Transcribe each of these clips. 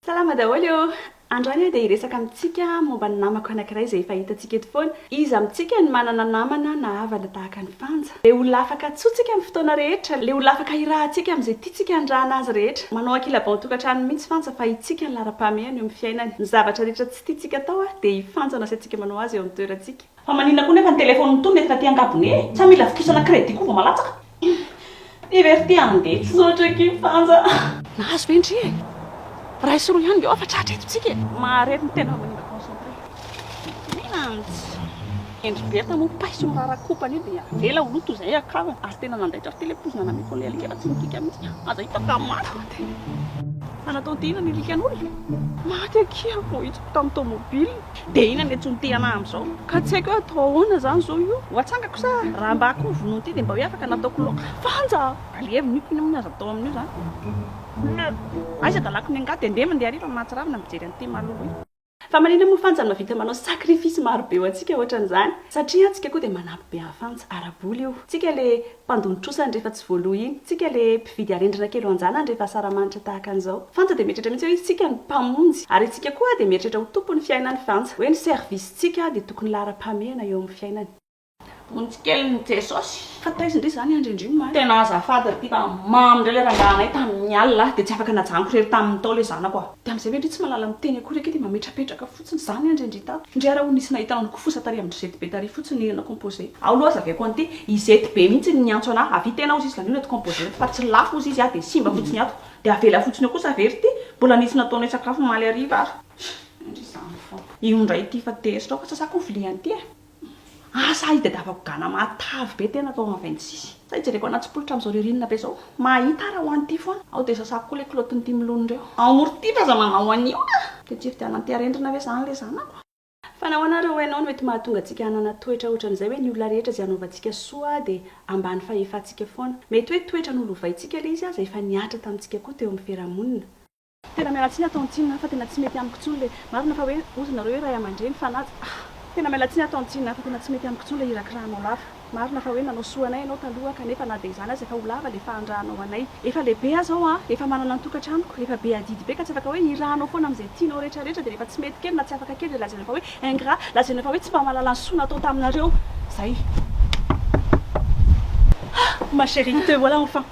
Salama daholo eo! Androany aho dia hiresaka amintsika momba ny namako anankiray izay efa hitantsika eto foana. Iza amintsika no manana namana na havana tahaka an'i Fanja? Ilay olona afaka antsointsika amin'ny fotoana rehetra, ilay olona afaka hirahantsika amin'izay tiantsika hanirahana azy rehetra. Manao ankilabao ny tokantrano mihitsy Fanja fa hitsika ny laharam-pahamehany eo amin'ny fiainany. Ny zavatra rehetra tsy tiantsika atao dia i Fanja no asiantsika manao azy eo amin'ny toerantsika. Fa maninona koa nefa ny téléphone ny tolona eto taty angabone e? Sa mila vikisana crédit koa vao malatsaka? Ty ve ry ty handeha tsy saotra ki Fanja a! Nahazo ve ndry e? Ray sy roa ihany nge oa fa tratra eto tsika e! Maharery ny tena fa manimba concentré. Minantsy! Hendry Bertha moa paiso mirara kopa anie dia avela ho lo toy izay akaniny ary tena nandaitra ry ty ilay poizina nameko an'ilay alika raha tsy nikika mihitsy aza hitako raha maty. Fa nataon'ty inona ny alikan'olona? Maty akia voahitsiko tamin'ny tomobile. Dia inona no etsy no te-hanahy amin'izao? Ka tsy haiko hoe atao ahoana izany izao io? Ho atsangako sa raha mba akoho vonoina ity dia mba hoe afaka nataoko laoka? Vanja! Alevino io k'inona moa ny azo atao amin'io izany? Aiza dalako ny angady? Endrey mandeha hariva mahatsiravina ny mijery an'ity Malou ity. Fa manina moa Fanja no mahavita manao sacrifice maro be ho antsika ohatran'izany? Satria an, tsika koa dia manampy be an'i Fanja, ara-bola io. Tsika le mpandony trosany rehefa tsy voaloa iny, tsika le mpividy arendrina kely ho anjanany rehefa asaramanitra tahaka an'izao. Fanta dia mieritreritra mihitsy hoe izy tsika no mpamonjy ary itsika koa dia mieritreritra ho tompon'ny fiainany fanta hoe ny service tsika dia tokony laharam-pahamehana eo amin'ny fiainany. Vonjy kely ny Jesosy. Fa taiza indray izany andry andrioma a! Tena azafady ry tipa a! Mamy indray ilay rangahy anay tamin'ny alina a! Dia tsy afaka najanoko irery tamin'ny tao ilay zanako a! Dia amin'izay ve indry tsy mahalala miteny akory ake dia mametrapetraka fotsiny. Tsy nizany andry ndry tato. Ndry ara o nisy nahita nanoko fosa tary amindry zety be tary fotsiny ny hena composé. Ao loha zaveko an'ity, i zety be mihitsy no niantso anah, avia tena ozy izy zany io reto composé reto fa tsy lafo ozy izy ah de simba fotsiny ato de avela fotsiny eo kosa very ty mbola nisy nataonay sakafo omaly hariva ary ndry zany fona io ndray ity fa tezitra ao fa sasako ny viliany ty eh. Asa itadiavako gana matavy be tena tao amin'ny vingt six sa ijereko anaty tsipolitra amin'izao ririnina be izao mahita ara ho any ity foana aho dia sasako koa ilay kilaotin'ity milona ireo ao Mortier aza manao an'io a! Dia tsy fidianan-teharendrina ve izany ilay zanako a! Fa nahoana ary hoy ianao no mety mahatonga antsika hanana toetra ohatran'izay hoe ny olona rehetra izay hanaovantsika soa dia ambany fahefantsika foana? Mety hoe toetra nolovaintsika ilay izy aza efa nihatra tamintsika koa teo amin'ny fiarahamonina. Tena miala tsiny ato Ntsina fa tena tsy mety amiko tsony le marina fa hoe ozy nareo hoe ray amandreny fa nad ah. Tena miala tsiny ato Ntsina fa tena tsy mety amiko tsony le hirakirahanao lava marina fa hoe nanao soa anay ianao taloha kanefa na dia izany aza efa ho lava le fahanrahanao anay efa lehibe aza aho ah efa manana ny tokatranoko efa be adidy be ka tsy afaka hoe hirahanao foana amin'izay tianao rehetra rehetra dia rehefa tsy mety kely na tsy afaka kely dia lazainao fa hoe ingrat lazainao fa hoe tsy mba mahalala ny soa natao taminareo zay ah ma chérie te voilà enfin.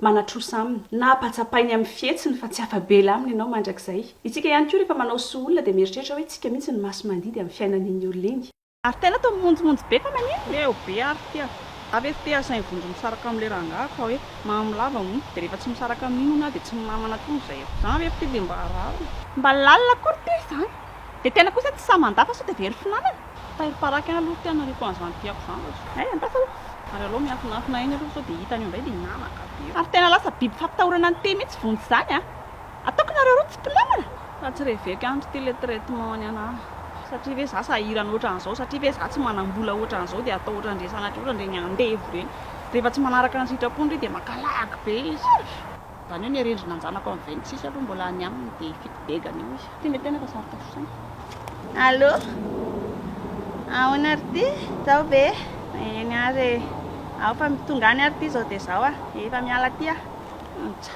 manatrosa aminy na apatsapainy amin'ny fihetsiny fa tsy afa-bela aminy ianao mandrakizay. Isika ihany koa rehefa manao soa olona dia mieritreritra hoe tsika mihitsy no masi-mandidy amin'ny fiainan'iny olona iny. Ary tena toa mimonjimonjy be fa maninona? Leo be ary ity ah! Avy efa te asainy vonjy misaraka amin'ilay rangah fa hoe mamy lava hono, dia rehefa tsy misaraka amin'iny hono aho dia tsy mamy manatrosa izay ah! Izany ve fa ity dia mba rariny? Mba lalina akory ity izany? Dia tena kosa tsy sahy mandà fa sao dia very finanana? Tairo paraky ahy aloha tena reko anzany tiako zany ohatry ny hay andafy aloha ary aleo miafinafina eny aloha sao dia hitany eo indray dia hinanaka be eo. Ary tena lasa biby fampitahorana ny tea mihitsy vonjy izany a! Ataoko nareo roa tsy mpinamana? Fa tsy reveko ihany ry ty le traitement ny anah. Satria ve za sahirana ohatran'izao? Satria ve za tsy manam-bola ohatran'izao dia atao ohatran'ireny sanatria ohatran'ireny andevo ireny? Rehefa tsy manaraka ny sitrapony ry dia mankalahgy be izy. Zany hoe ny arendrina anjanako am vingt six aloha mbola any aminy de fito dega any eo izy. Ty le tena fa sarotra fosaina. Allô? Ahoana ry ty? Zao ve? Eny ary e. Ao fa tonga any ary ty zao dia zao a. Efa miala ty aho. Ontsa.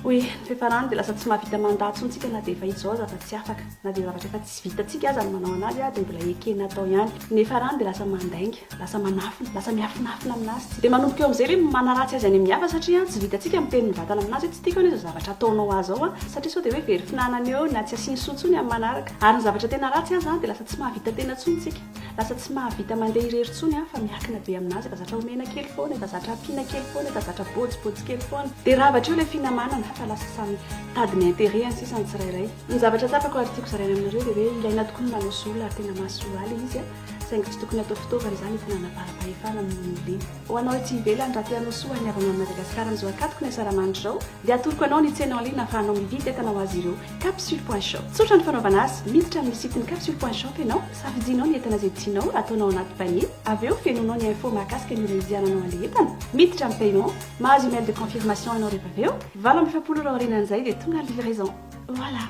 Hoy ny fiafarany dia lasa tsy mahavita mandat tsony tsika na dia efa izao aza fa tsy afaka. Na dia zavatra efa tsy vitantsika aza ny manao anazy dia mbola ekena atao ihany. Ny fiafarany dia lasa mandainga. Lasa manafina, lasa miafinafina amin'azy, dia manomboka eo amin'izay hoe manaratsy azy any amin'ny hafa satria tsy vitantsika ny miteny ny vatana amin'azy hoe tsy tiako anie izao zavatra ataonao ahy izao satria sao dia hoe very finanana eo na tsy asiany soa intsony amin'ny manaraka. Ary ny zavatra tena ratsy aza dia lasa tsy mahavita tena intsony isika. Lasa tsy mahavita mandeha irery intsony fa miankina be amin'azy, efa zatra omena kely foana, efa zatra ampiana kely foana, efa zatra bojibojy kely foana. Dia rava hatreo ilay finamanana fa lasa samy mitady ny intérêt any sisa ny tsirairay. Ny zavatra tsapako ary tiako zaraina aminareo dia hoe ilaina tokoa ny manao sola ary tena mahasoa ahy ilay izy a! saingy tsy tokony hatao fitaovana izany ho fananam-paham-pahefana amin'ny olona. Ho anao ety ivelany, raha te hanao soa an'ny havaman'i Madagasikara amin'izao ankatoky ny hasaramany izao, dia atoroko anao ny tsena en ligne ahafahanao mividy entana ho azy ireo, Capsule Point Shop. Tsotra ny fanaovana azy, miditra amin'ny site-n'ny Capsule Point Shop ianao, safidianao ny entana izay tianao, ataonao anaty panier, avy eo fenoinao ny info mahakasika ny ora hividiananao an'ilay entana, miditra amin'ny paiement, mahazo email de confirmation ianao rehefa avy eo, valo amby efapolo ora aorianan'izay dia tonga ny livraison. Voilà!